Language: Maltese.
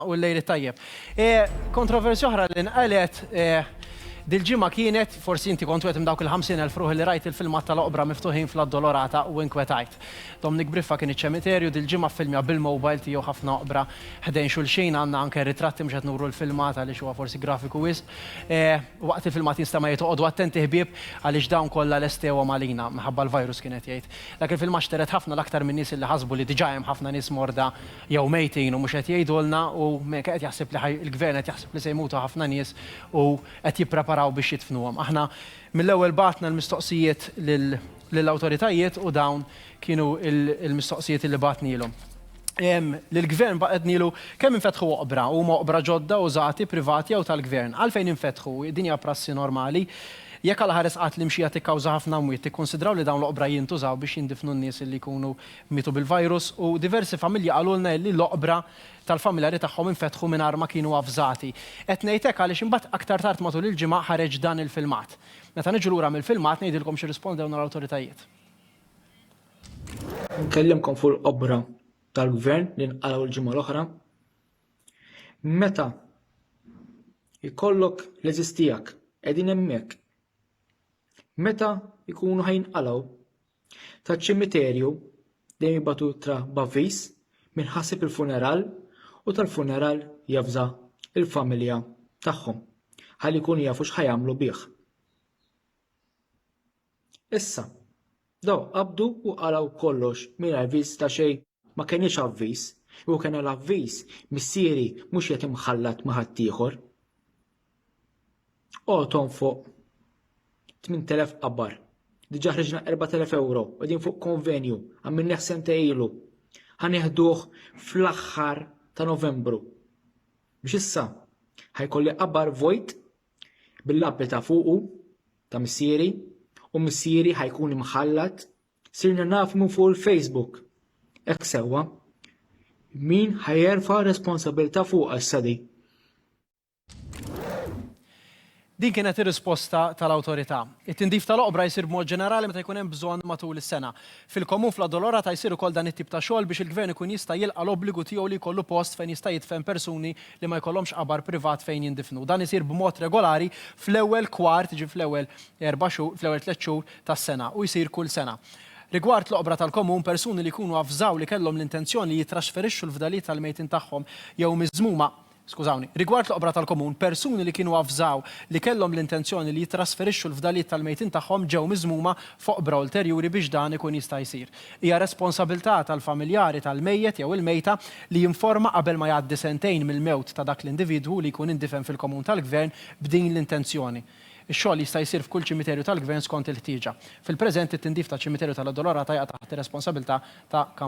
u l-lejl it-tajjeb. Kontroversja oħra li nqalgħet dil-ġimgħa kienet, forsi inti kont wieħed minn dawk il-ħamsin elf ruħ li rajt il-filmat tal-oqbra miftuħin fl-Addolorata u inkwetajt. Dominic Briffa kien iċ-ċemiterju, dil-ġimgħa ffilmja bil-mobile tiegħu ħafna oqbra ħdejn xulxin, għandna anke ritratti mhux qed nuru l-filmat għaliex huwa forsi grafiku wisq. Waqt il-filmat jinstema' jgħid oqogħdu attenti ħbieb għaliex dawn kollha lestewhom għalina, minħabba l-virus kien qed jgħid. Dak il-filmat xtered ħafna l-aktar min-nies li ħasbu li diġà hemm ħafna nies morda jew mejtin u mhux qed jgħidulna u mineka qed jaħseb li ħaj il-gvern qed jaħseb li se jmutu ħafna nies u qed jippreparaw biex jidfnuhom. Aħna mill-ewwel bgħatna l-mistoqsijiet lil lill-awtoritajiet u dawn kienu il-mistoqsijiet li bgħatnielhom. Ehm, lill-gvern bgħatnielu kemm infetħu oqbra, huma oqbra ġodda użati, privati jew tal-gvern? Għalfejn infetħu? Din hija prassi normali? Jekk Alla Ħares qatt li mxija tikkawża ħafna mwiet, tikkunsidraw li dawn l-oqbra jintużaw biex jindifnu n-nies li jkunu mietu bil-virus u diversi familji qalulna illi l-oqbra tal-familjari tagħhom infetħu mingħajr ma kienu avżati. Qed ngħid hekk għaliex imbagħad aktar tard matul il-ġimgħa ħareġ dan il-filmat. Meta niġu lura mill-filmat ngħidilkom x'irrispondewna l-awtoritajiet. Nkellimkom fuq l-oqbra tal-Gvern li nqalgħu l-ġimgħa l-oħra. Meta jkollok l-għeżież tiegħek qegħdin hemmhekk, meta jkunu ħajinqalgħu Taċ-ċimiterju dejjem jibgħatu ittra b'avviż min ħasib il-funeral u tal-funeral javża l-familja tagħhom ħalli jkunu jafu x'ħa jagħmlu bih. Issa, daw qabdu u qalgħu kollox mingħajr viż ta' xejn ma kenniex avviż, u kena l-avviż missieri mhux qed imħallat ma' ħaddieħor. Qoton fuq 8000 qabar. Diġa ħriġna 4000 euro, għedin fuq konvenju, għammin neħsen ta' ilu. Ħaneħduħ fl-axħar ta' novembru. Biex issa, ħajkolli qabar vojt bil-labbi ta' fuqu ta' missieri u missieri ħajkun imħallat sirna nafmu fuq il-Facebook. Ek sewa, min ħajerfa responsabilta fuq għas-sadi. Din kienet ir-risposta tal-Awtorità. It-tindif tal-oqbra jsir b'mod ġenerali meta jkun hemm bżonn matul is-sena. Fil-Komun fl-Addolorata jsir ukoll dan it-tip ta' xogħol biex il-Gvern ikun jista' jilqa' l-obbligu tiegħu li jkollu post fejn jista' jidfen persuni li ma jkollhomx qabar privat fejn jindifnu. Dan isir b'mod regolari fl-ewwel kwart, jiġifieri fl-ewwel erba' xhur, fl-ewwel tliet xhur tas-sena u jsir kull sena. Rigward l-oqbra tal-Komun, persuni li jkunu avżaw li kellhom l-intenzjoni li jittraxferixxu l-fdalijiet tal-mejtin tagħhom jew miżmuma skużawni, rigward l-oqbra tal-komun, persuni li kienu avżaw li kellhom l-intenzjoni li jittrasferixxu l-fdalijiet tal-mejtin tagħhom ġew miżmuma f'oqbra ulterjuri biex dan ikun jista' jsir. Hija responsabilità tal-familjari tal-mejjet jew il-mejta li jinforma qabel ma jgħaddi sentejn mill-mewt ta' dak l-individwu li jkun indifen fil-komun tal-gvern b'din l-intenzjoni. Ix-xogħol jista' jsir f'kull ċimiterju tal-gvern skont il-ħtieġa. Fil-preżent, it-tindif taċ-Ċimiterju tal-Addolorata jaqa' taħt ir-responsabilità ta'